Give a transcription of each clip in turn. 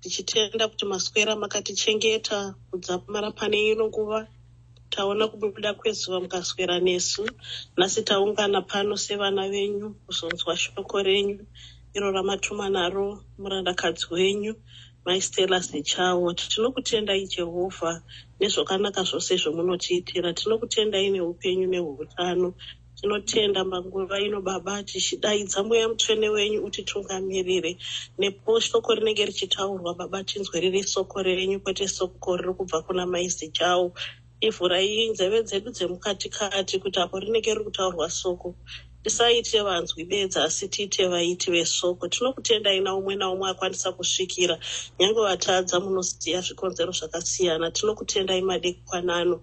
tichitenda kuti maswera makatichengeta kudzamara pane ino nguva taona kubuda kwezuva mukaswera nesu nhasi taungana pano sevana venyu kuzonzwa shoko renyu iro ramatuma naro murandakadzi wenyu maistela sechawo tinokutendai jehovha nezvakanaka zvose zvomunotiitira tinokutendai neupenyu neutano Tinotenda panguva ino Baba tichidaidza mweya mutsvene wenyu utitungamirire nepo soko rinenge richitaurwa Baba tinzwe riri soko renyu kwete soko riri kubva kuna mai Zichau ivhurai nzeve dzedu dzemukati kati kuti apo rinenge riri kutaurwa soko tisaite vanzwi bedzi asi tiite vaiti vesoko tinokutendai na umwe naumwe akwanisa kusvikira nyange vatadza munosiya zvikonzero zvakasiyana tinokutendai madekwanano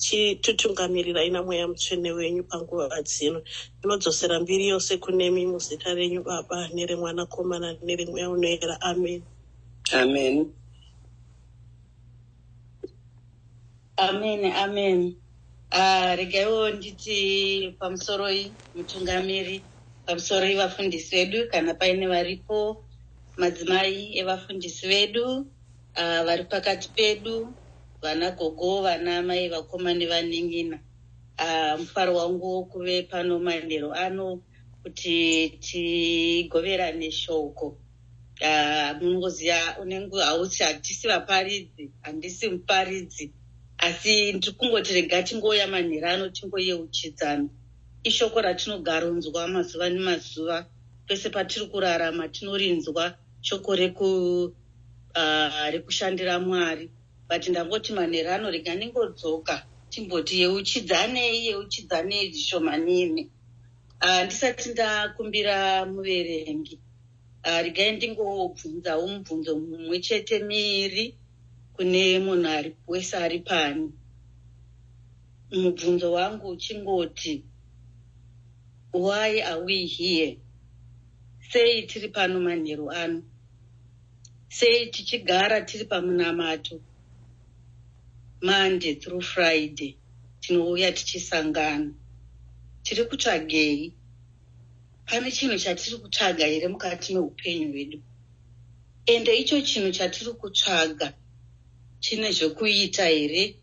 chitutungamirira ina mweya mutsvene wenyu panguva dzino ndinodzosera mbiri yose kunemi muzita renyu baba neremwanakomana neremweya unoera amen amen amen amen ah, regaiwo nditi pamusoroi mutungamiri pamusoroi vafundisi vedu kana paine varipo madzimai evafundisi vedu Aa vari pakati pedu vana gogo vana amai vakoma nevanin'ina aa mufaro wangu wokuve pano manheru ano kuti tigoverane shoko aa munongoziva unenge hausi hatisi vaparidzi handisi muparidzi asi ndiri kungoti rega tingouya manheru ano tingoyeuchidzana ishoko ratinogaronzwa mazuva nemazuva pese patiri kurarama tinorinzwa shoko reku uh, rekushandira mwari but ndangoti manera anorega ndingodzoka timboti yeuchidzanei yeuchidzanei zvishomanini uh, ndisati ndakumbira muverengi uh, regai ndingobvunzawo mubvunzo mumwe chete miri kune munhu ari wese ari pani mubvunzo wangu uchingoti why are we here Sei tiri pano manheru ano? Sei tichigara tiri pamunamato? Monday through Friday tinouya tichisangana. Tiri kutsvagei? Pane chinhu chatiri kutsvaga here mukati meupenyu hwedu? Ende icho chinhu chatiri kutsvaga chine zvekuita here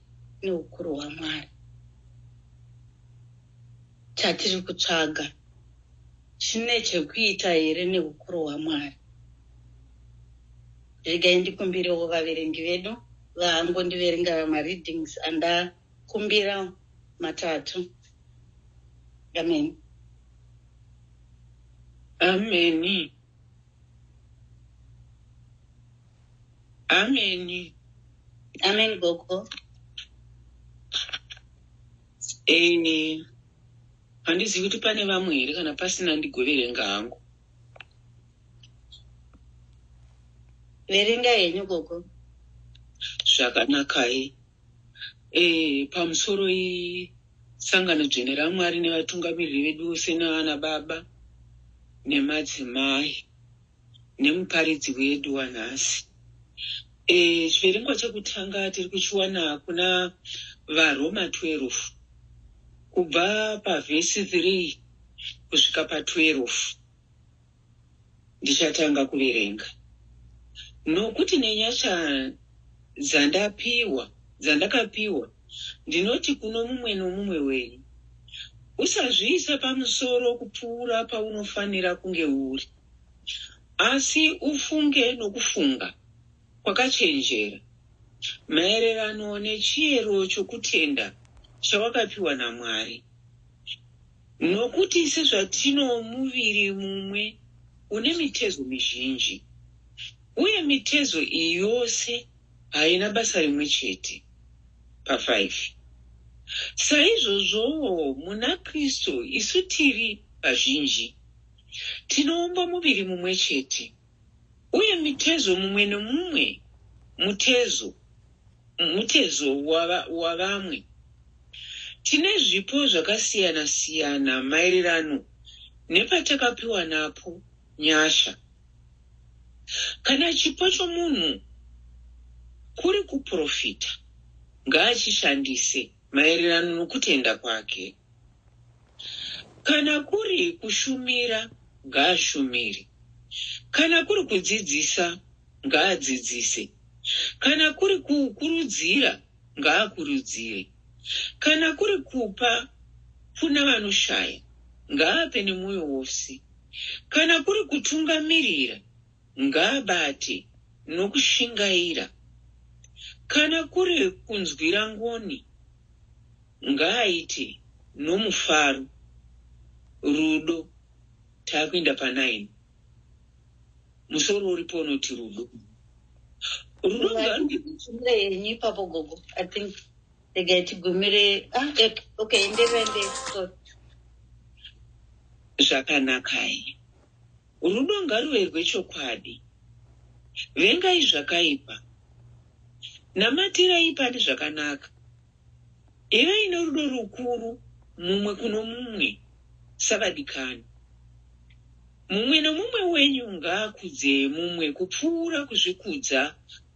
neukuru hwaMwari? chatiri kutsvaga chine chekuita here neukuru hwaMwari? Regai ndikumbirewo vaverengi vedu vaangondiverenga mareadings andakumbira matatu. Amen. Ameni. Ameni. Amen, Gogo. Eh, handizivi kuti pane vamwe here kana pasina ndigoverenga hangu. Verenga henyu gogo. Zvakanakai. Eh, pamusoro isangano dzvene raMwari nevatungamiriri vedu vose navana baba nemadzimai. nemuparidzi wedu wanhasi. E, chiverengwa chekutanga tiri kuchiwana kuna varoma 12 kubva pavhesi 3 kusvika pa12 ndichatanga kuverenga nokuti nenyasha dzandapiwa dzandakapiwa ndinoti kuno mumwe nomumwe wenyu usazviisa pamusoro kupfuura paunofanira kunge uri Asi ufunge nokufunga kwakachenjera maererano nechiyero chokutenda chawakapiwa naMwari. Nokuti sezvatino muviri mumwe une mitezo mizhinji, uye mitezo iyi yose haina basa rimwe chete, pa 5 saizvozvowo muna Kristu isu tiri vazhinji, tinoumba muviri mumwe chete uye mitezo mumwe nomumwe mutezo mutezo wavamwe tine zvipo zvakasiyana siyana maererano nepatakapiwa napo nyasha kana chipo chomunhu kuri kuprofita ngaachishandise Maererano nokutenda kwake. Kana kuri kushumira, ngaashumire. Kana kuri kudzidzisa, ngaadzidzise. Kana kuri kukurudzira, ngaakurudzire. Kana kuri kupa kuna vanoshaya, ngaape nemwoyo wose. Kana kuri kutungamirira, ngaabate nokushingaira, kana kuri kunzwira ngoni, ngaaite nomufaro. Rudo, takuenda pa 9. Musoro uripo unoti rudo. Rudo ngarude. Chimire yenyu ipapo gogo. I think regai tigumire ah eh, okay enderai ndei sorry. zvakanakai. Rudo ngaruve rwechokwadi. Vengai zvakaipa. Namatirai pane zvakanaka. Ivai norudo rukuru mumwe kuno mumwe savadikani. Mumwe nomumwe wenyu ngaakudze mumwe kupfuura kuzvikudza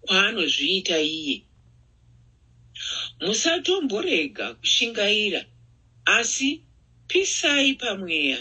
kwaanozviita iye. Musatomborega kushingaira, asi pisai pamweya.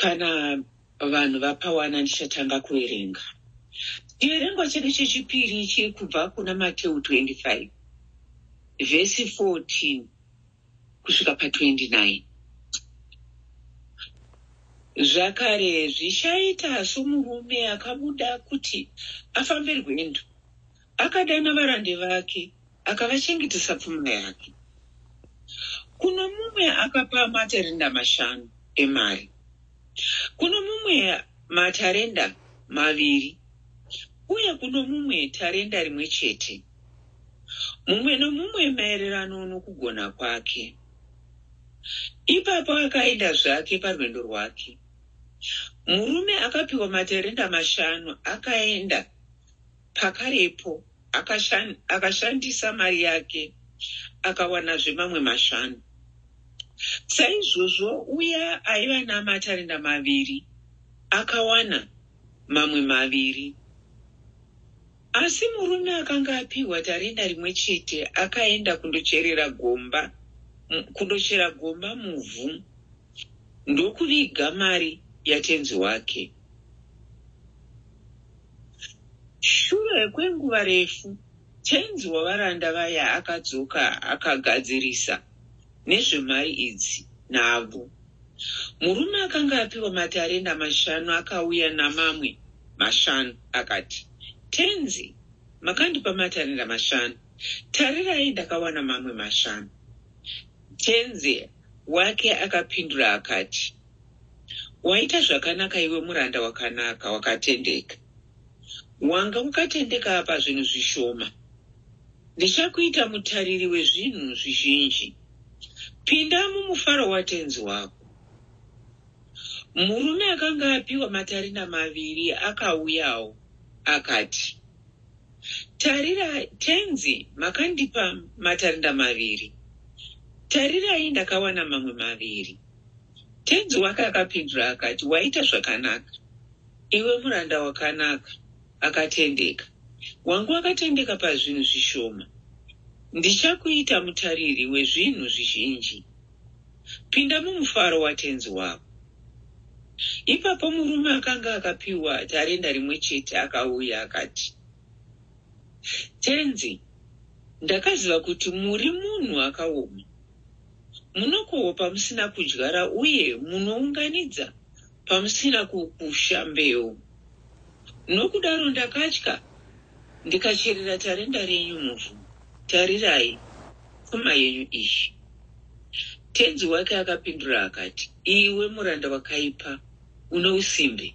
kana vanhu vapawana ndichatanga kuverenga chiverengo chedu chechipiri chiri kubva kuna mateu 25 vhesi 14 kusvika pa 29 zvakare zvichaita somurume akabuda kuti afambe rwendo akadana varande vake akavachengetesa pfuma yake kuno mumwe akapa matarenda mashanu emari kuno mumwe matarenda maviri uye kuno mumwe tarenda rimwe chete mumwe nomumwe maererano nokugona kwake. Ipapo akaenda zvake parwendo rwake. Murume akapiwa materenda mashanu akaenda pakarepo akashandisa mari yake akawanazve mamwe mashanu. Saizvozvo uya aiva namatarenda maviri akawana mamwe maviri. Asi murume akanga apihwa tarenda rimwe chete akaenda kundocherera gomba, kundochera gomba muvhu ndokuviga mari yatenzi wake. Shure kwenguva refu, tenzi wavaranda vaya akadzoka akagadzirisa nezvemari idzi navo. Murume akanga apiwa matarenda mashanu akauya namamwe mashanu, akati, Tenzi, makandipa matarenda mashanu. Tarirai, ndakawana mamwe mashanu. Tenzi wake akapindura akati, Waita zvakanaka iwe muranda wakanaka, wakatendeka. Wanga wakatendeka apa zvinhu zvishoma. Ndichakuita mutariri wezvinhu zvizhinji. Pinda mumufaro watenzi wako. Murume akanga apiwa matarina maviri akauyawo, akati, Tarira, tenzi, makandipa matarinda maviri. Tarirai, ndakawana mamwe maviri. Tenzi wake akapindura akati, Waita zvakanaka, iwe muranda wakanaka. akatendeka. Wangu akatendeka pazvinhu zvishoma. Ndichakuita mutariri wezvinhu zvizhinji. Pinda mumufaro watenzi wako. Ipapo murume akanga akapiwa tarenda rimwe chete akauya akati, Tenzi, ndakaziva kuti muri munhu akaoma. Munokohwa pamusina kudyara uye munounganidza pamusina kukusha mbeu. Nokudaro ndakatya, ndikacherera tarenda renyu muvhu. Tarirai, pfuma yenyu iyi. Tenzi wake akapindura akati, Iwe muranda wakaipa, une usimbe!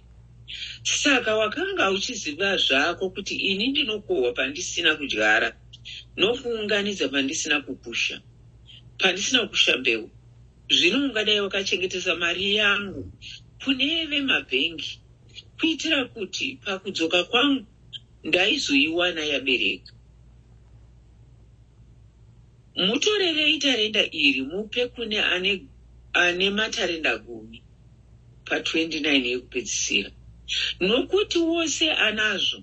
Saka wakanga uchiziva zvako kuti ini ndinokohwa pandisina kudyara nokuunganidza pandisina kukusha, pandisina kukusha mbeu. Zvino ungadai wakachengetesa mari yangu kune vemabhengi kuitira kuti pakudzoka kwangu ndaizoiwana yabereka. Mutorerei tarenda iri mupe kune ane, ane matarenda gumi pa29 yekupedzisira, nokuti wose anazvo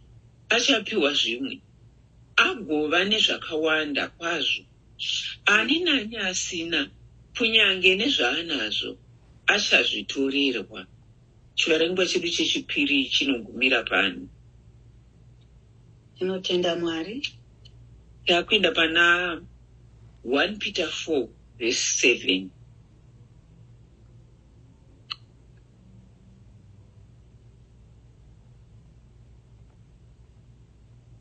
achapiwa zvimwe, agova nezvakawanda kwazvo Ani naani asina, kunyange nezvaanazvo, achazvitorerwa. Chiverengwa chedu chechipiri chinogumira pano. Tinotenda Mwari. Takuenda pana 1 Peter 4 verse 7.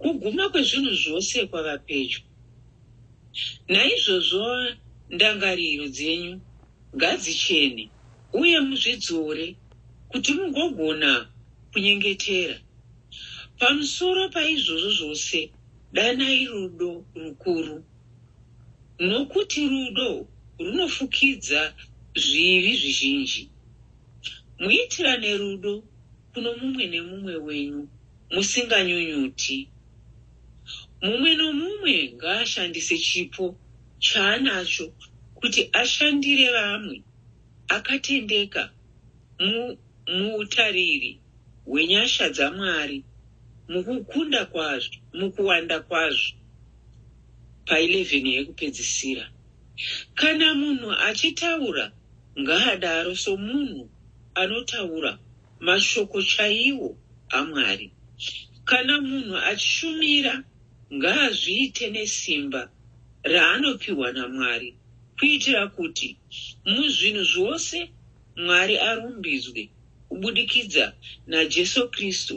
Kuguma kwezvinhu zvose kwava pedyo. Naizvozvo ndangariro dzenyu ngadzichene, uye muzvidzore, kuti mugogona kunyengetera. Pamusoro paizvozvo zvose, danai rudo rukuru, nokuti rudo runofukidza zvivi zvizhinji. Muitirane rudo kuno mumwe nemumwe wenyu musinganyunyuti. Mumwe nomumwe ngaashandise chipo chaanacho kuti ashandire vamwe akatendeka mu, muutariri hwenyasha dzaMwari mukukunda kwazvo, mukuwanda kwazvo pa 11 yekupedzisira. Kana munhu achitaura, ngaadaro somunhu anotaura Mashoko chaiwo aMwari. Kana munhu achishumira, ngaazviite nesimba raanopiwa naMwari kuitira kuti muzvinhu zvose Mwari arumbidzwe kubudikidza naJesu Kristu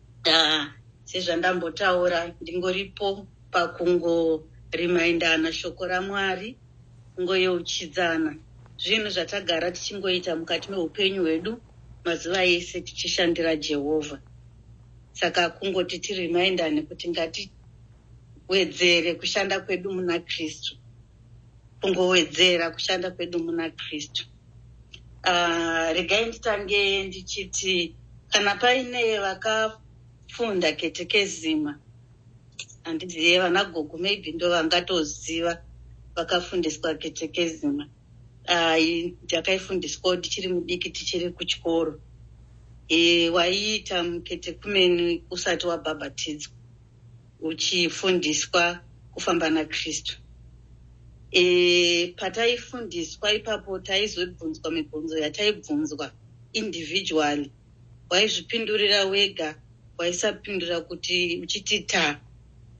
Haa sezvandambotaura ndingoripo pakungo remindana shoko raMwari kungoyeuchidzana zvinhu zvatagara tichingoita mukati meupenyu hwedu mazuva ese tichishandira Jehovha saka kungoti tirimindane kuti ngatiwedzere kushanda kwedu muna Kristu kungowedzera kushanda kwedu muna Kristu uh, regai nditange ndichiti kana paine vakafunda ketekezima handizive vana gogo maybe ndo vangatoziva vakafundiswa ketekezima ah, ndakaifundiswawo ndichiri mudiki tichiri kuchikoro e, waiita mukete kumeni usati wabhabhatidzwa uchifundiswa kufamba nakristu e, pataifundiswa ipapo taizobvunzwa mibvunzo yataibvunzwa individually waizvipindurira wega waisapindura kuti uchiti ta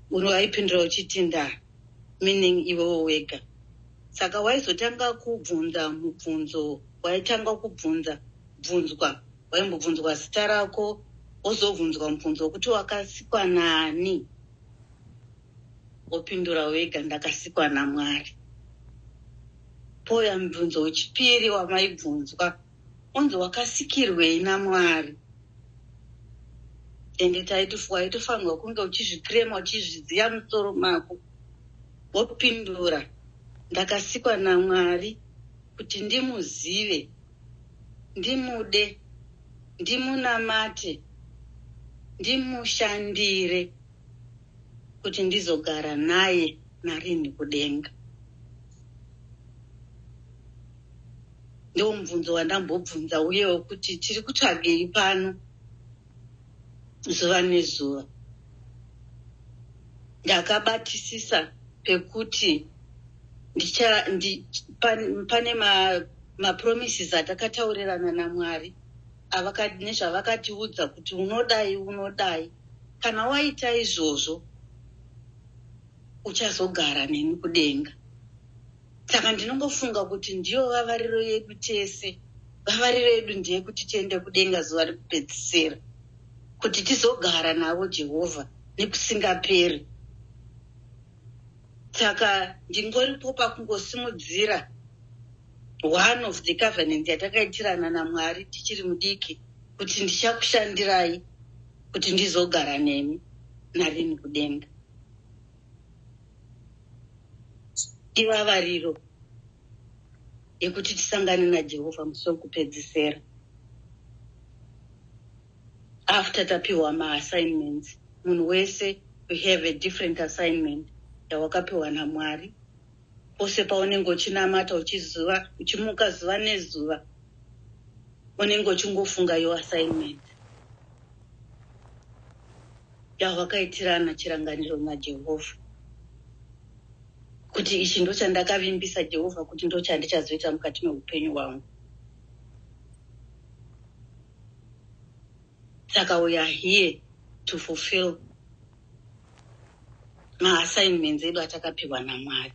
waipindura uchiti nda meaning iwewo wega saka waizotanga kubvunza mubvunzo waitanga kubvunza bvunzwa waimbobvunzwa zita rako wozobvunzwa mubvunzo wekuti wakasikwa naani wopindura wega ndakasikwa namwari pouya mubvunzo wechipiri wamaibvunzwa onzi wakasikirwei namwari ende taitofanirwa kunge uchizvikrema uchizviziva musoro mako wopindura ndakasikwa namwari kuti ndimuzive ndimude, ndimunamate, ndimushandire kuti ndizogara naye narini kudenga. Ndiwo mubvunzo wandambobvunza uyewo kuti tiri kutsvagei pano. zuva nezuva. Ndakabatisisa pekuti ndicha, ndi, pan, pane mapromises ma atakataurirana naMwari nezvavakatiudza kuti unodai unodai kana waita izvozvo uchazogara neni kudenga saka ndinongofunga kuti ndiyo vavariro yedu tese vavariro yedu ndeyekuti tiende kudenga zuva rekupedzisira kuti tizogara navo jehovha nekusingaperi saka ndingoripo pakungosimudzira one of the covenant yatakaitirana namwari tichiri mudiki kuti ndichakushandirai kuti ndizogara nemi narini kudenga ivavariro yekuti tisangane najehovha musi wekupedzisera after tapiwa maassignments munhu wese we have a different assignment yawakapiwa namwari pose paunenge uchinamata uchiziva uchimuka zuva nezuva unenge uchingofunga yo assignment yahwakaitirana chirangariro naJehovha, kuti ichi ndochandakavimbisa Jehovha kuti ndochandichazoita mukati meupenyu hwangu. Saka we are here to fulfill maassignments edu atakapiwa naMwari.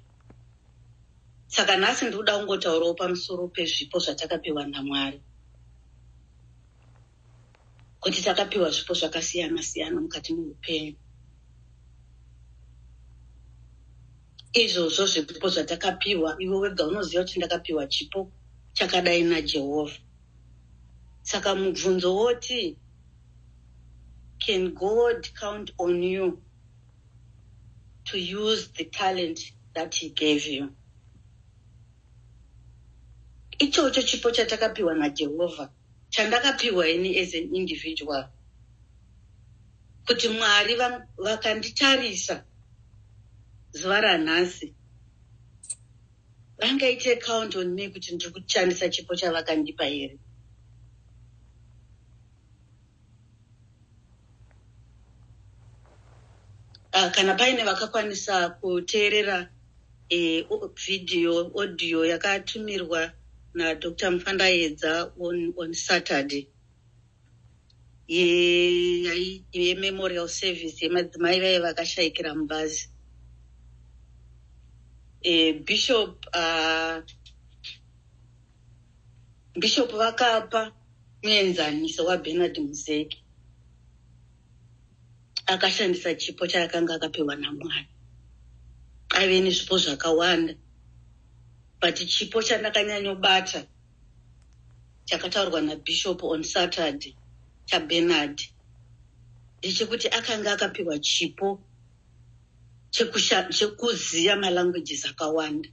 Saka nhasi ndikuda kungotaurawo pamusoro pezvipo zvatakapiwa naMwari. kuti takapiwa zvipo zvakasiyana siyana mukati meupenyu izvozvo zvipo zvatakapiwa ivo wega unoziva kuti ndakapiwa chipo chakadai najehovha saka mubvunzo woti can god count on you to use the talent that he gave you ichocho chipo chatakapiwa najehovha chandakapihwa ini as an individual kuti mwari vakanditarisa va zuva ranhasi vangaite account on me kuti ndiri kushandisa chipo chavakandipa here Ah, kana paine vakakwanisa kuteerera eh, video audio yakatumirwa nadr mufandaedza on, on saturday yememorial ye service yemadzimai vaye vakashayikira mubazi e, bishop uh, Bishop vakapa muenzaniso waBernard Muzeki akashandisa chipo chaakanga akapiwa naMwari. Aive nezvipo zvakawanda but chipo chandakanyanyobata chakataurwa naBishop on Saturday chaBernard ndechekuti akanga akapiwa chipo chekuziva malanguages akawanda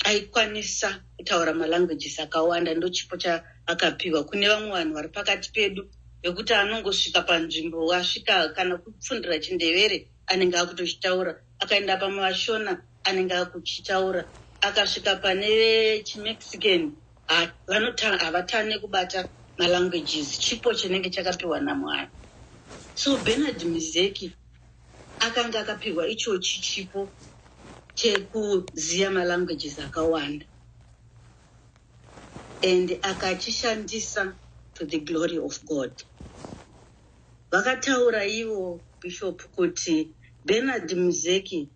aikwanisa kutaura malanguages akawanda ndochipo chaakapiwa kune vamwe vanhu vari pakati pedu vekuti anongosvika panzvimbo asvika kana kupfundira chindevere anenge akutochitaura akaenda pamavashona anenge akuchitaura akasvika pane chimexican ha, vanotanga havatane kubata malanguages chipo chinenge chakapiwa namwari so benard mizeki akanga akapiwa ichochi chipo chekuziva malanguages akawanda and akachishandisa to the glory of god vakataura ivo bishop kuti benard muzeki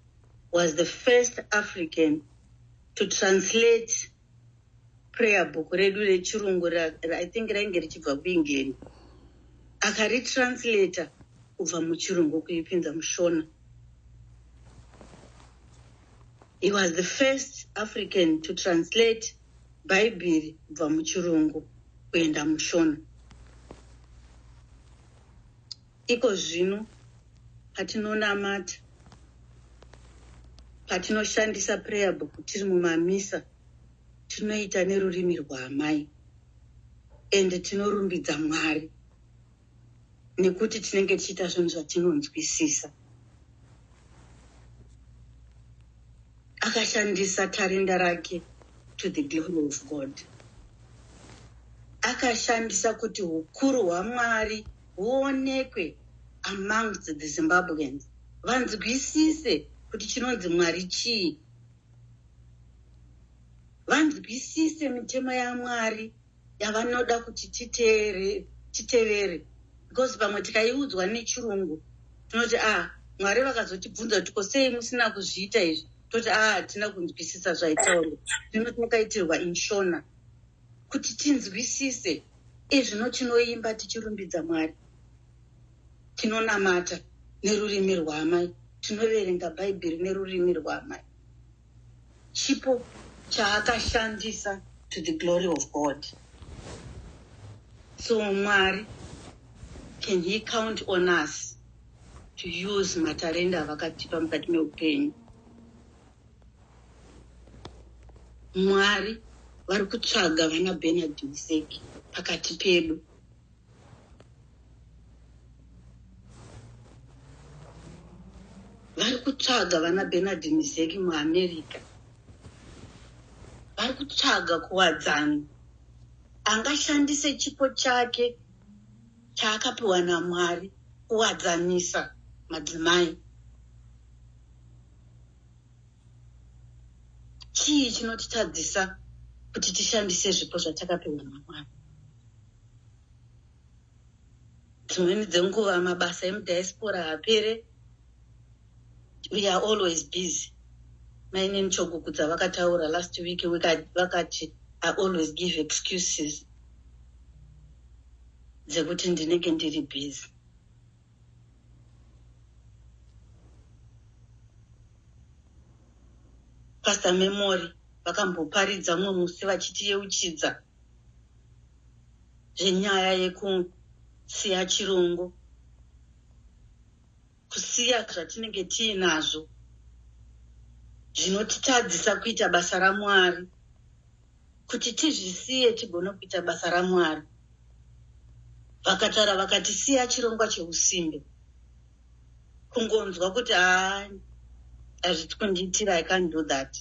was the first african to translate prayer book redu rechirungu i think rainge richibva kuengland akaritranslator kubva muchirungu kuipinza mushona he was the first african to translate bhaibheri kubva muchirungu kuenda mushona Iko zvino patinonamata, patinoshandisa prayer book tiri mumamisa, tinoita nerurimi rwaamai and tinorumbidza Mwari nekuti tinenge tichiita zvinhu zvatinonzwisisa. Akashandisa tarinda rake to the glory of God. Akashandisa kuti hukuru hwaMwari huonekwe amongst the Zimbabweans vanzwisise kuti chinonzi Mwari chii, vanzwisise mitemo yaMwari yavanoda kuti titeere, titevere because pamwe tikaiudzwa nechirungu tinoti ah Mwari vakazotibvunza kuti ko sei musina kuzviita izvi toti ah hatina kunzwisisa zvaitaurwa zvino takaitirwa inshona kuti tinzwisise Izvino tinoimba tichirumbidza Mwari, tinonamata nerurimi rwaamai, tinoverenga Bhaibheri nerurimi rwaamai. Chipo chaakashandisa to the glory of God. So Mwari, can he count on us to use matarenda avakatipa mukati meupenyu? Mwari vari kutsvaga vana Bernard Mseki pakati pedu. Vari kutsvaga vana Bernard Mseki muAmerica. Vari kutsvaga kuwadzana angashandise chipo chake chaakapiwa naMwari kuwadzanisa madzimai. Chii chinotitadzisa kuti tishandise zvipo zvatakapiwa naMwari? Dzimweni dzenguva mabasa emudiaspora haapere. We are always busy. Mainini Chogugudza vakataura last week vakati I always give excuses dzekuti ndinenge ndiri busy. Pastor Memory vakamboparidza umwe musi vachitiyeuchidza zvenyaya yekusiya chirungu, kusiya zvatinenge tiinazvo zvinotitadzisa kuita basa raMwari. kuti tizvisiye tigone kuita basa ramwari vakataura vakati siya chirongwa cheusimbe kungonzwa kuti a hazviti kundiitira i can't do that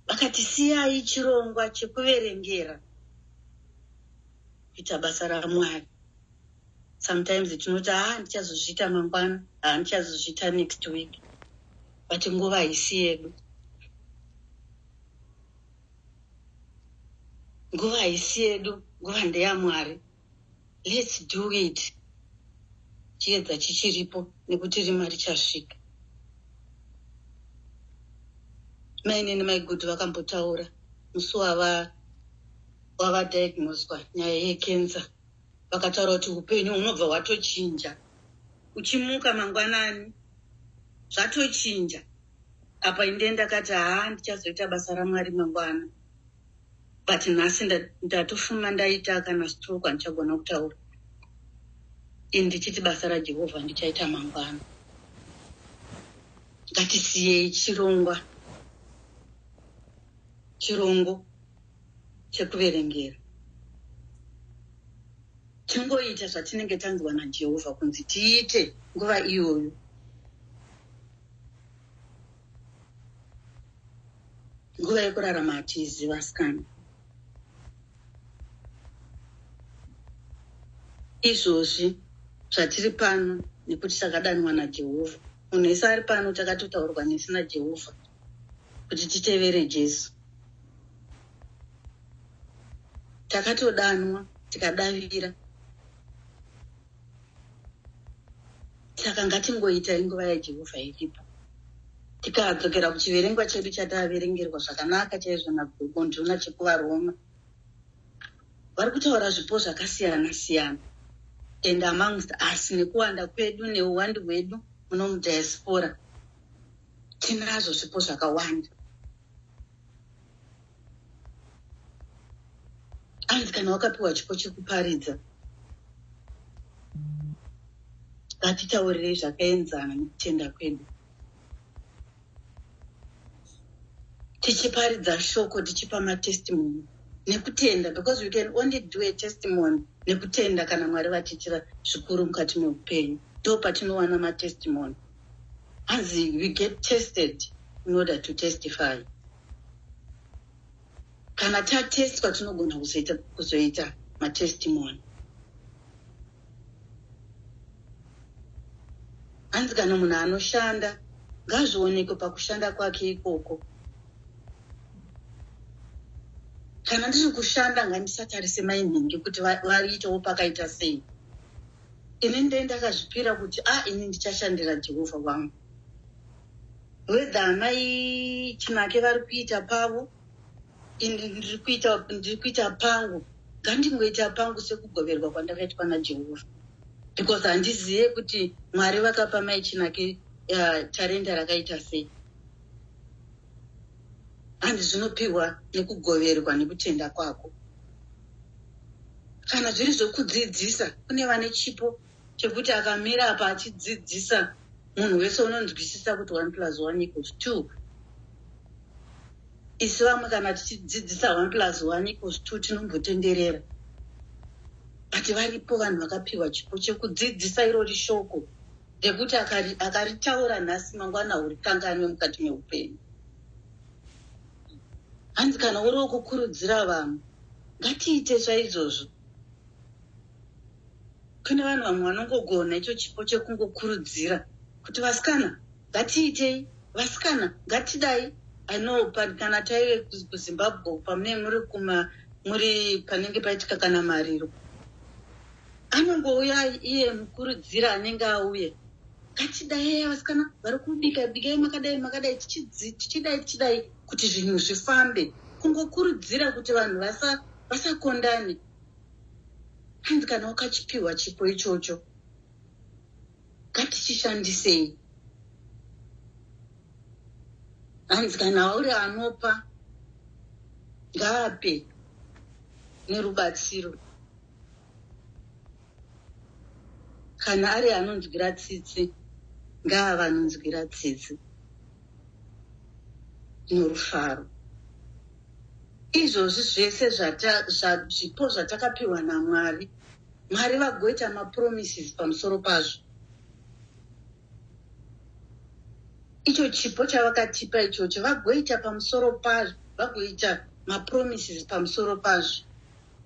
vakati siyai chirongwa chekuverengera kuita basa ramwari sometimes tinoti haa ah, ndichazozviita mangwana haa ah, ndichazozviita next week but nguva haisi yedu nguva haisi yedu nguva ndeyamwari lets do it chiedza chichiripo nekuti rima richasvika mainini maigudhu vakambotaura musi wava wavadiagnoswa nyaya yekenza vakataura kuti upenyu hunobva hwatochinja uchimuka mangwanani zvatochinja apa inde ndakati haa ndichazoita basa ramwari mangwana but nhasi ndatofuma ndaita kana stroke handichagona kutaura ini ndichiti basa rajehovha ndichaita mangwana ngatisiyei chirongwa chirongo chekuverengera tingoita zvatinenge tanzwa najehovha kunzi tiite nguva iyoyo nguva yekurarama hatiiziva sikana izvozvi zvatiri pano nekuti takadanwa najehovha munhu ese ari pano takatotaurwa nesi najehovha kuti titevere jesu takatodanwa tikadavira saka ngatingoita inguva yajehovha iripo tikadzokera kuchiverengwa chedu chataverengerwa zvakanaka chaizvo nagondona chekuvaroma vari kutaura zvipo zvakasiyana siyana and amongst us nekuwanda kwedu neuwandi hwedu muno mudiaspora tinazvo zvipo zvakawanda hanzi kana wakapiwa chipo chekuparidza ngatitaurirei zvakaenzana nekutenda kwedu tichiparidza shoko tichipa matestimony nekutenda because you can only do a testimony nekutenda kana mwari vatiitira zvikuru mukati meupenyu ndo patinowana matestimony hanzi you get tested in order to testify kana tatestwa tinogona kuzoita, kuzoita matestimony hanzi kana munhu anoshanda ngazvionekwe pakushanda kwake ikoko kana ndiri kushanda ngandisatarise mainhingi kuti variitawo pakaita sei ini ndee ndakazvipira kuti a ah, ini ndichashandira jehovha wangu whether amai chinake vari kuita pavo ini ndiri kuita ndiri kuita pangu ngandingoita pangu sekugoverwa kwandakaitwa najehovha because handizive kuti mwari vakapa mai chinake uh, tarenda rakaita sei and zvinopiwa nekugoverwa nekutenda kwako kana zviri zvekudzidzisa kune vane chipo chekuti akamira apa achidzidzisa munhu wese unonzwisisa kuti one plus one equals two isi vamwe kana tichidzidzisa one plus one equals two tinombotenderera but varipo vanhu vakapiwa chipo chekudzidzisa irori shoko rekuti akaritaura nhasi mangwana urikanganwe mukati meupenyu hanzi kana uri wekukurudzira vanhu ngatiite chaizvozvo kune vanhu vamwe vanongogona icho chipo chekungokurudzira kuti vasikana ngatiitei vasikana ngatidai i know kana taive kuzimbabwe pamune muri kuma muri panenge paitika kana mariro anongouya iye mukurudzira anenge auye ngatidai vasikana vari kubika bikai makadai makadai tichidai tichidai kuti zvinhu zvifambe kungokurudzira kuti vanhu vasakondane hanzi kana wakachipiwa chipo ichocho ngatichishandisei hanzi kana uri anopa ngaape nerubatsiro Kana ari anonzwira tsitsi ngaava anonzwira tsitsi norufaro. Izvozvi zvese zvipo zvatakapiwa naMwari, Mwari vagoita mapromises pamusoro pazvo. Icho chipo chavakatipa ichocho vagoita pamusoro pazvo, vagoita mapromises pamusoro pazvo.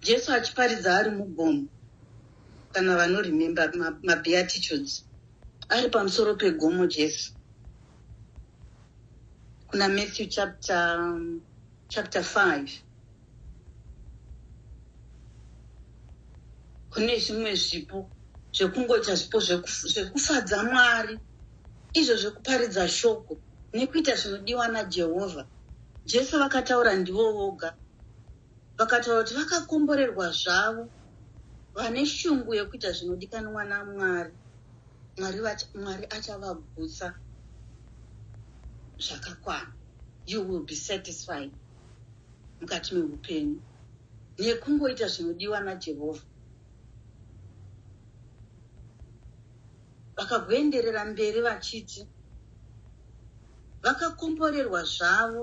Jesu achiparidza ari mugomo, kana vanoremember mabeatitudes ari pamusoro pegomo Jesu kuna Matthew chapter, um, chapter 5 kune zvimwe zvipo zvekungoita zvipo zvekufadza mwari izvo zvekuparidza shoko nekuita zvinodiwa najehovha jesu vakataura ndivo voga Vakataura kuti vakakomborerwa zvavo vane shungu yekuita zvinodikanwa naMwari. Mwari, Mwari achavagutsa zvakakwana. You will be satisfied mukati meupenyu nekungoita zvinodiwa naJehovha. Vakagoenderera mberi vachiti vakakomborerwa zvavo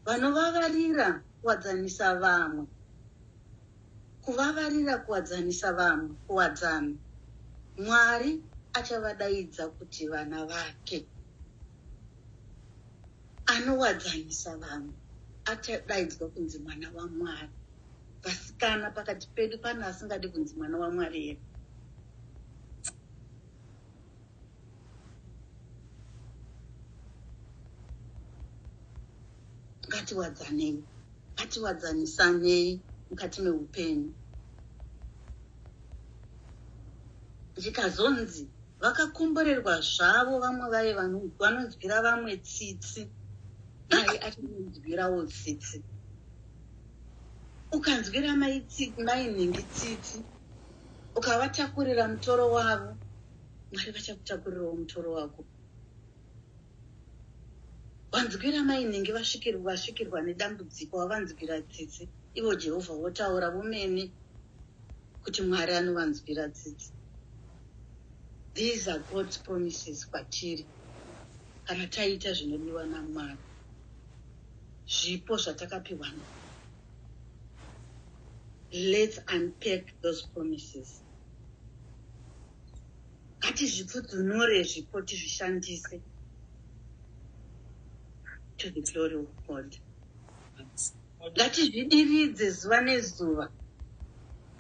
vanovavarira kuwadzanisa vamwe kuvavarira kuwadzanisa vamwe kuwadzana mwari achavadaidza kuti vana vake anowadzanisa vamwe achadaidzwa kunzi mwana wamwari vasikana pakati pedu pane asingadi kunzi mwana wamwari here ngatiwadzanei ngatiwadzanisanei mukati meupenyu zvikazonzi vakakomborerwa zvavo vamwe vaye vanonzwira vamwe tsitsi naye achinonzwirawo tsitsi ukanzwira mainhingi tsitsi ukavatakurira mutoro wavo mwari vachakutakurirawo mutoro wako vanzwira mainenge vasvikirwa vasvikirwa nedambudziko vavanzwira tsitsi ivo jehovha votaura vomene kuti mwari anovanzwira tsitsi these are god's promises kwatiri kana taita zvinodiwa namwari zvipo zvatakapiwa na let's unpack those promises ngatizvipfudzunure zvipo tizvishandise to the glory of god ngatizvidiridze zuva nezuva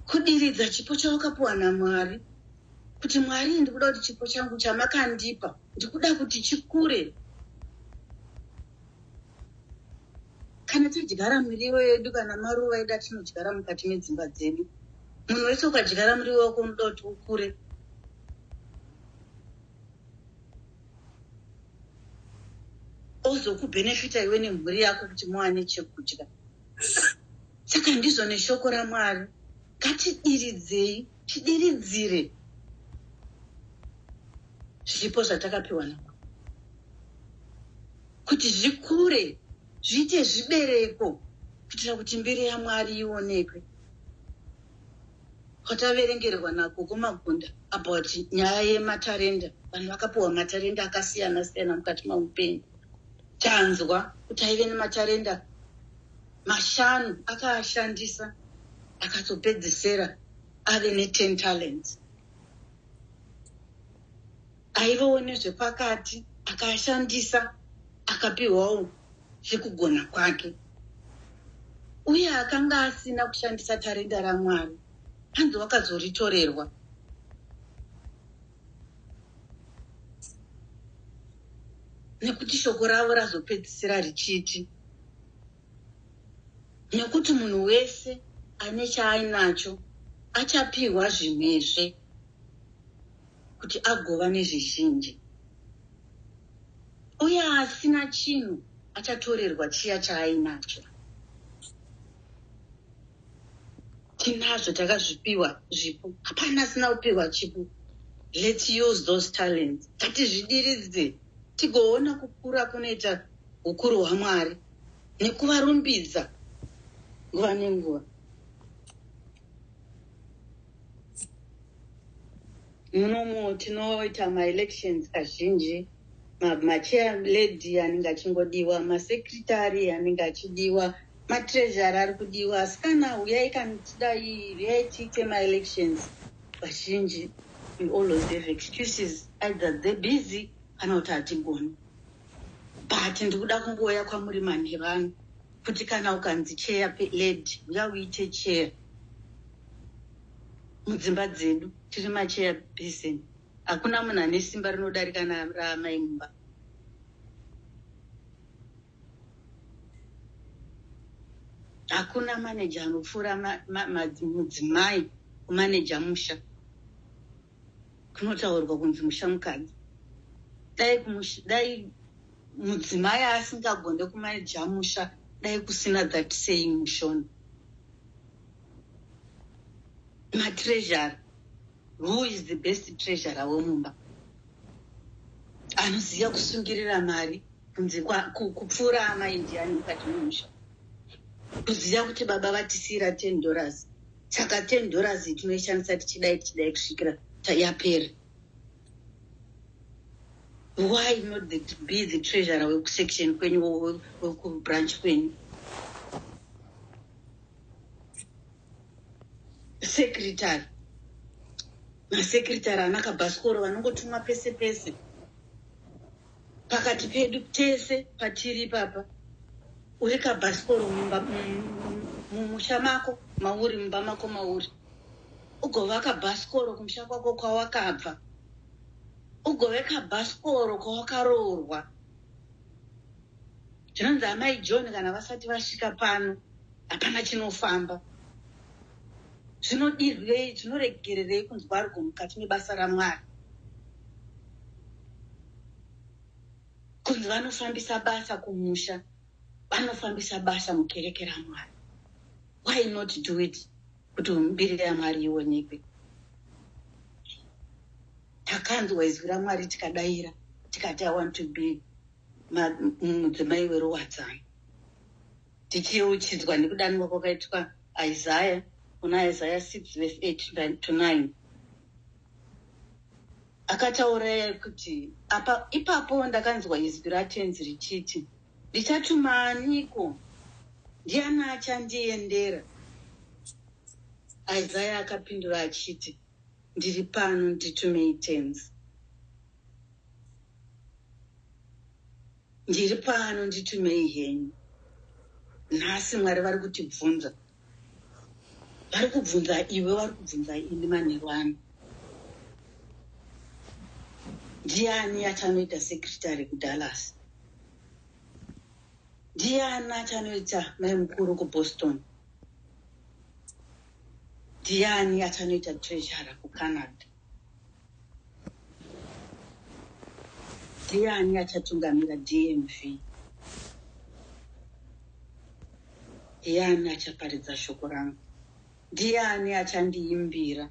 kudiridza chipo chawakapuwa namwari kuti mwari ndikuda kuti chipo changu chamakandipa ndikuda kuti chikure kana tidyara miriwo yedu kana maruva edu atinodyara mukati medzimba dzedu munhu wese ukadyara muriwo wako unoda kuti ukure ozokubhenefita iwe nemhuri yako kuti muwane chekudya saka ndizvo neshoko ramwari ngatidiridzei tidiridzire zvipo zvatakapiwa namwari kuti zvikure zviite zvibereko kuitira kuti mbiri yamwari ionekwe kwataverengerwa nako kumagunda about nyaya yematarenda vanhu vakapiwa matarenda akasiyana siyana mukati meupenyu tanzwa kuti aive nematarenda mashanu akaashandisa akazopedzesera ave ne10 talents aivawo nezvepakati akashandisa akapiwawo zvekugona kwake uye akanga asina kushandisa tarenda ramwari hanzi wakazoritorerwa nekuti shoko ravo razopedzisira richiti nekuti munhu wese ane chaainacho achapiwa zvimwezve kuti agova nezvizhinji, uye asina chinhu achatorerwa chiya chaainacho. Tinazvo takazvipiwa zvipo, hapana asina kupiwa chipo. Let's use those talents, ngatizvidiridze tigoona kukura kunoita ukuru hwaMwari nekuvarumbidza nguva nenguva. munomu tinoita maelections kazhinji machair lady anenge achingodiwa masecretary anenge achidiwa matreasury ari kudiwa asi kana huyai kanotidai huyai tiite maelections vazhinji we always have excuses either the busy kana kuti hatigoni but ndikuda kungouya kwamuri manhevanhu kuti kana ukanzi cheya lady uya uite cheya mudzimba dzedu tiri macheya besen hakuna munhu ane simba rinodarika raamai mumba hakuna maneja anopfuura mudzimai kumaneja musha kunotaurwa kunzi mushamukadzi dai kumush, dai mudzimai asingagone kumaneja musha dai kusina that saying mushona matreasure who is the best treasure wemumba anoziva kusungirira mari kunzi kupfuura amaindiani mukati memusha kuziva kuti baba vatisiira ten dollars saka ten dollars tinoishandisa tichidai tichidai kusvikira yapera why not the, be the treasurer wekusection kwenyu wekubranch kwenyu secretary masecretary anakabhasikoro vanongotumwa pese pese pakati pedu tese patiri ipapa uri kabhasikoro mumusha mako mauri mumba mako mauri ugova kabhasikoro kumusha kwako kwawakabva ugove kabhasikoro kwawakaroorwa Chinonzi amai John kana vasati vasvika pano hapana chinofamba. Zvinodirwei, zvinoregererei kunzwa rugo mukati mebasa raMwari? Kunzi vanofambisa basa kumusha, vanofambisa basa mukereke raMwari. Why not do it kuti mbiri yaMwari ionekwe? Takanzwa izwi raMwari tikadaira tikati I want to be mudzimai weruwadzano tichiyeuchidzwa nekudanwa kwakaitwa isaya kuna isaya 6 vese 8 to 9 akataura kuti apa ipapo ndakanzwa izwi ratenzi richiti ndichatuma aniko ndiani achandiendera isaya akapindura achiti ndiri pano nditumei Tenzi ndiri pano nditumei henyu nhasi mwari vari kutibvunza vari kubvunza iwe vari kubvunza ini manheru ano ndiani atanoita sekretary kudallas ndiani atanoita mai mukuru kuboston Ndiani achanoita treasurer kuCanada? Ndiani achatungamira DMV? Ndiani achaparidza shoko rangu? Ndiani achandiimbira?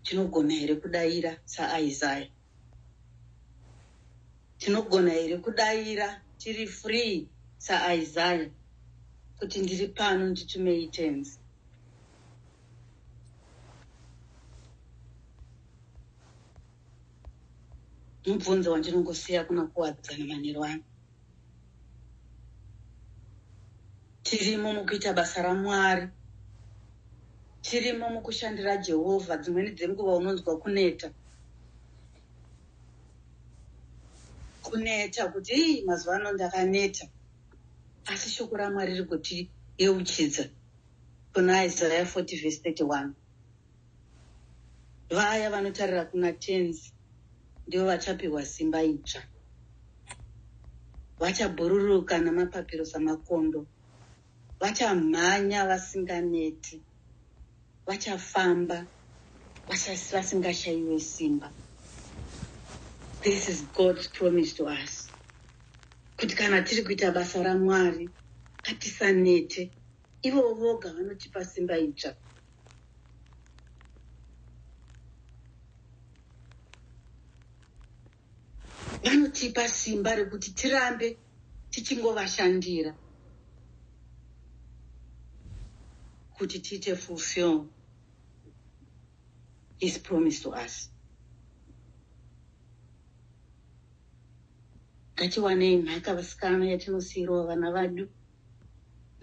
Tinogona here kudaira saIsaya? tinogona here kudaira tiri free saisaya kuti ndiri pano nditumei tenzi mubvunzo wandinongosiya kuna kuwadzana manheru ano Tirimo mukuita basa raMwari. Tirimo mukushandira Jehovha. Dzimweni dzenguva unonzwa kuneta. Kuneta kuti ii mazuva ano ndakaneta. Asi shoko raMwari riri kutiyeuchidza kuna Isaya 40 vhesi 31. Vaya vanotarira kuna Tenzi ndivo vachapihwa simba idzva. Vachabhururuka namapapiro samakondo. Vachamhanya vasinganeti. Vachafamba vasingashaiwe simba. This is God's promise to us. Kuti kana tiri kuita basa raMwari, hatisanete. Ivo voga vanotipa simba idzva. Vanotipa simba rekuti tirambe tichingovashandira kuti tiite fulfill his promise to us. Ngatiwanei nhaka vasikana yatinosiirwa vana vadu.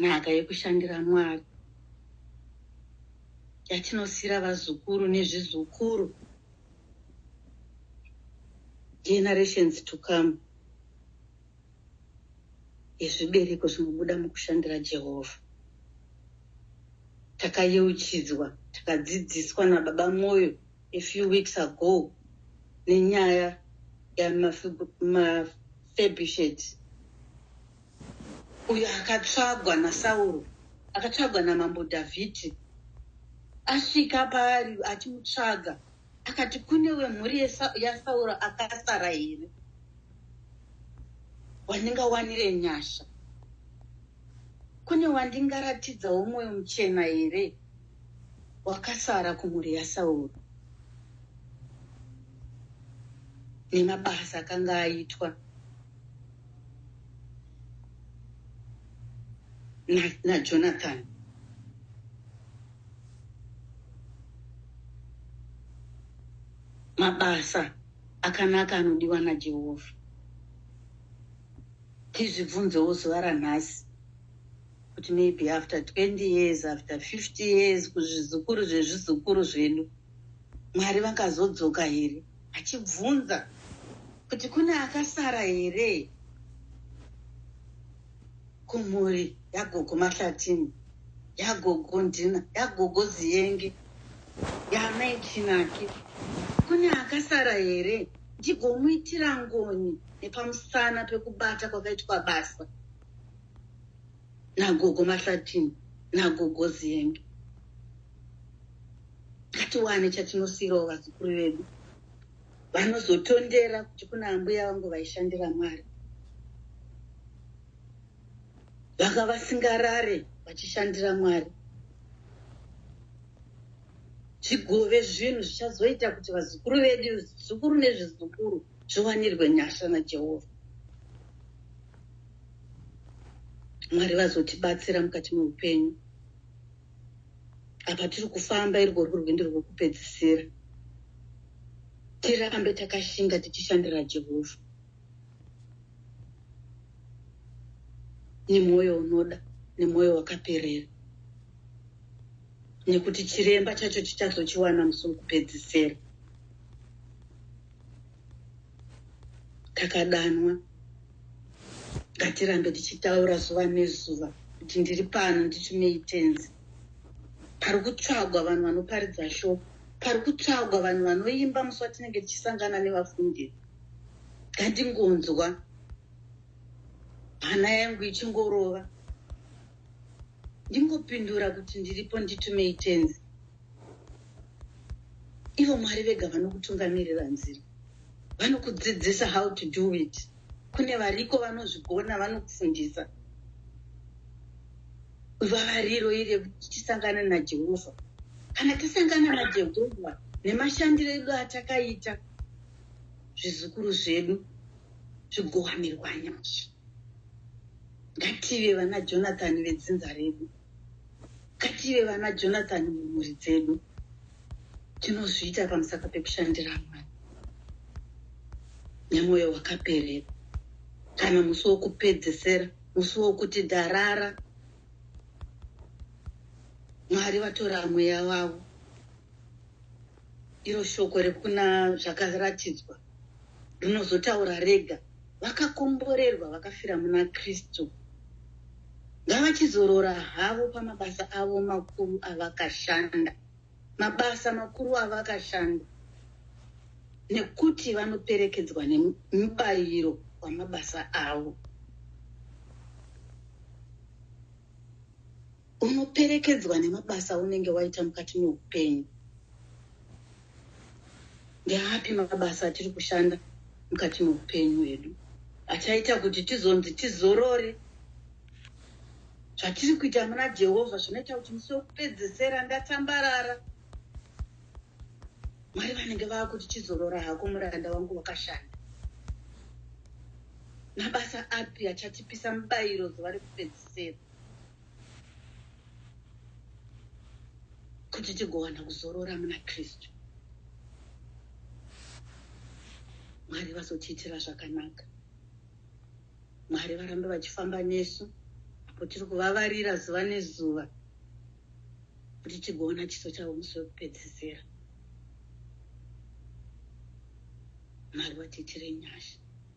nhaka yekushandira Mwari yatinosiira vazukuru nezvizukuru, generations to come, yezvibereko zvinobuda mukushandira Jehovha. Takayeuchidzwa, takadzidziswa naBaba Moyo a few weeks ago nenyaya yamafabusheti. uyo akatsvagwa naSauro, akatsvagwa naMambo Dhavhidhi. Asvika paari achimutsvaga, akati, Kune wemhuri yaSauro akasara here wandingawanire nyasha? Kune wandingaratidzawo mwoyo muchena here wakasara kumhuri yaSauro? Nemabasa akanga aitwa najonathan na mabasa akanaka anodiwa najehovha tizvibvunzewo zuva ranhasi kuti maybe after 20 years after 50 years kuzvizukuru zvezvizukuru zvedu zve Mwari vakazodzoka here? Achibvunza kuti kune akasara here kumhuri yagogo Mahlatini, yagogo Ndina, yagogo Ziyenge, yaamai Chinaki. Kune akasara here ndigomuitira ngoni nepamusana pekubata kwakaitwa basa nagogo Mahlatini nagogo Ziyenge. ngatiwane chatinosiirawo vazukuru vedu vanozotondera kuti kuna ambuya vangu vaishandira mwari vanga vasingarare vachishandira mwari zvigove zvinhu zvichazoita kuti vazukuru vedu zukuru nezvizukuru zviwanirwe nyasha najehovha mwari vazotibatsira mukati meupenyu apa tiri kufamba iri rwuri rwendo rwekupedzisira tirambe takashinga tichishandira jehovha nemwoyo unoda nemwoyo wakaperera nekuti chiremba chacho chichazochiwana musi wekupedzisira takadanwa ngatirambe tichitaura zuva nezuva kuti ndiri pano nditumei tenzi pari kutsvagwa vanhu vanoparidza shoko pari kutsvagwa vanhu vanoimba musi watinenge tichisangana nevafundiri ngandingonzwa hana yangu ichingorova ndingopindura kuti ndiripo nditumei tenzi ivo mwari vega vanokutungamirira nzira vanokudzidzisa how to do it kune variko vanozvigona vanokufundisa vavariro iri yekuti tisangane najehovha kana tisangana najehovha nemashandiro edu atakaita zvizukuru zvedu zvigowanirwa nyasha ngative vana jonathan vedzinza redu Ngative vana Jonathan mumhuri dzedu, tinozviita pamusaka pekushandira Mwari nemwoyo wakaperera. Kana musi wokupedzesera, musi wokuti darara, Mwari vatora mweya wavo Iro shoko rekuna zvakaratidzwa rinozotaura rega. Vakakomborerwa vakafira muna Kristu ngavachizorora havo pamabasa avo makuru avakashanda, mabasa makuru avakashanda, nekuti vanoperekedzwa nemubayiro wamabasa avo. unoperekedzwa nemabasa aunenge waita mukati meupenyu ndeapi mabasa atiri kushanda mukati meupenyu hwedu achaita kuti tizonzi tizorore zvatiri kuita muna jehovha zvinoita kuti musi wekupedzesera ndatambarara mwari vanenge vava kuti chizorora hako muranda wangu wakashanda mabasa api achatipisa mubayiro zuva rekupedzesera kuti tigowana kuzorora muna kristu mwari vazotiitira zvakanaka mwari varambe vachifamba nesu apo tiri kuvavarira zuva nezuva kuti tigoona chiso chavo musi wekupedzisira mwari vatiitire nyasha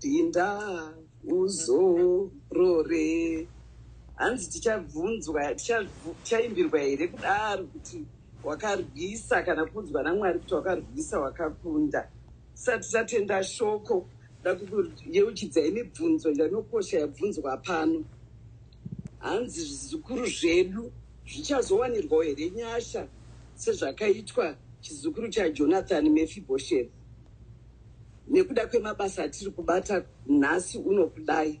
Pinda uzorore. Hanzi tichabvunzwa tichaimbirwa here kudaro kuti wakarwisa kana kuudzwa naMwari kuti wakarwisa wakakunda. Tisati tatenda shoko ndakuyeuchidzai mibvunzo yanokosha yabvunzwa pano. Hanzi zvizukuru zvedu zvichazowanirwawo here nyasha sezvakaitwa chizukuru chaJonathan Mefiboshethi. nekuda kwemabasa atiri kubata nhasi unokudai.